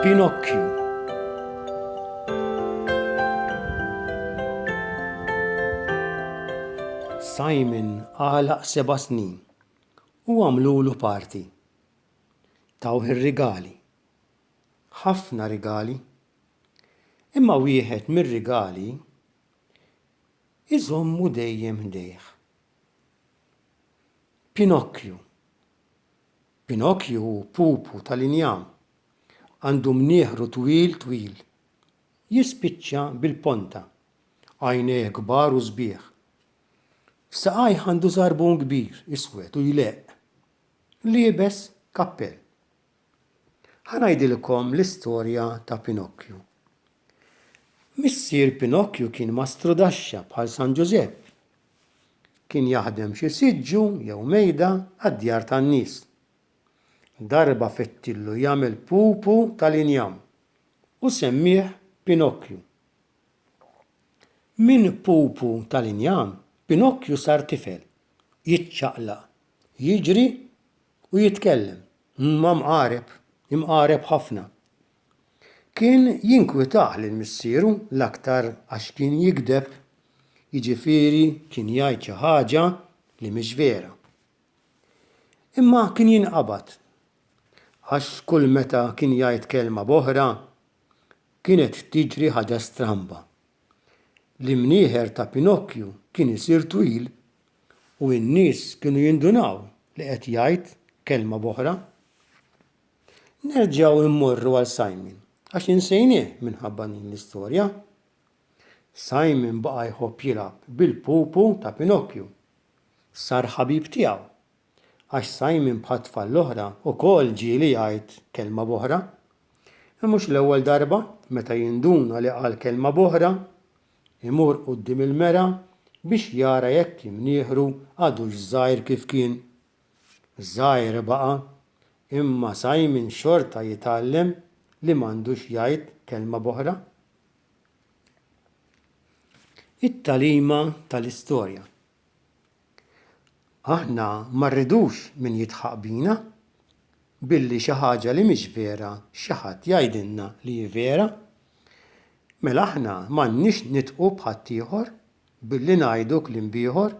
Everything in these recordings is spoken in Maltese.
Pinocchio. Simon għalaq seba snin u għamlulu parti. Tawh ir-rigali. ħafna rigali. Imma wieħed mir-rigali iżommu dejjem ħdejh. Pinokju. Pinokju hu pupu tal-injam. Għandu mnieħru twil twil. Jispiċċa bil-ponta. Għajnejh kbar u sbieħ. F'saqajh għandu żarbun kbir iswed u jleqq. Liebes kappell. Ħa ngħidilkom l-istorja ta' Pinokkju. Missier Pinokkju kien mastru daxxa bħal San Ġużepp. Kien jaħdem xi siġġu jew mejda għad-djar tan-nies. Darba fettillu jagħmel pupu tal-injam u semmieh Pinokkju. Minn pupu tal-injam, Pinokkju sar tifel, jiċċaqlaq, jiġri u jitkellem ma' mqareb, imqareb ħafna. Kien jinkwitah lil missieru l-aktar għax kien jigdeb, jiġifieri kien jgħid xi ħaġa li mhix vera. Imma kien jinqabad għax kull meta kien jgħid kelma b'oħra, kienet tiġri ħaġa stramba. L-imnieħer ta' Pinokju kien isir twil u n-nies kienu jindunaw li qed jgħid kelma b'oħra. Nerġgħu immorru għal Simon għax insejnieh minħabba din l-istorja. Simon baqa' jħobb jilgħab bil-pupu ta' Pinokju. Sar ħabib tiegħu. għax Simon bħat-tfal l-oħra ukoll ġieli jgħid kelma b'oħra. Hi mhux l-ewwel darba, meta jinduna li qal kelma b'oħra, imur quddiem il-mera biex jara jekk imnieħru għadux żgħir kif kien. Żgħir baqa', imma Simon xorta jitgħallem li m'għandux jgħid kelma b'oħra. It-tagħlima tal-istorja Aħna ma rridux min jidħaq bina billi xi ħaġa li mhix vera xi ħadd jgħidilna li hi vera. Mela aħna m'għandniex nidħqu b'ħaddieħor billi ngħidu kliem b'ieħor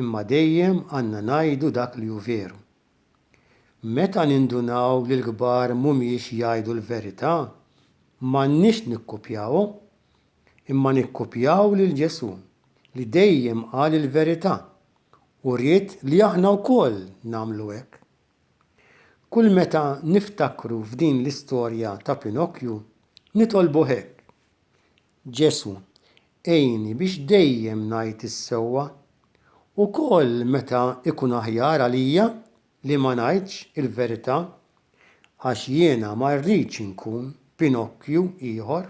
imma dejjem għandna ngħidu dak li hu veru. Meta nindunaw li l-kbar mhumiex jgħidu l-verità, m'għandniex nikkupjawhom, imma nikkupjaw lil Ġesù li dejjem qal il-verità u ried li aħna wkoll nagħmlu hekk. Kull meta niftakru f'din l-istorja ta' Pinokju, nitolbu hekk, Ġesu', għinni biex dejjem ngħid is-sewwa, ukoll meta jkun aħjar għalija li ma ngħidx il-verità, għax jiena ma rridx inkun Pinokkju ieħor.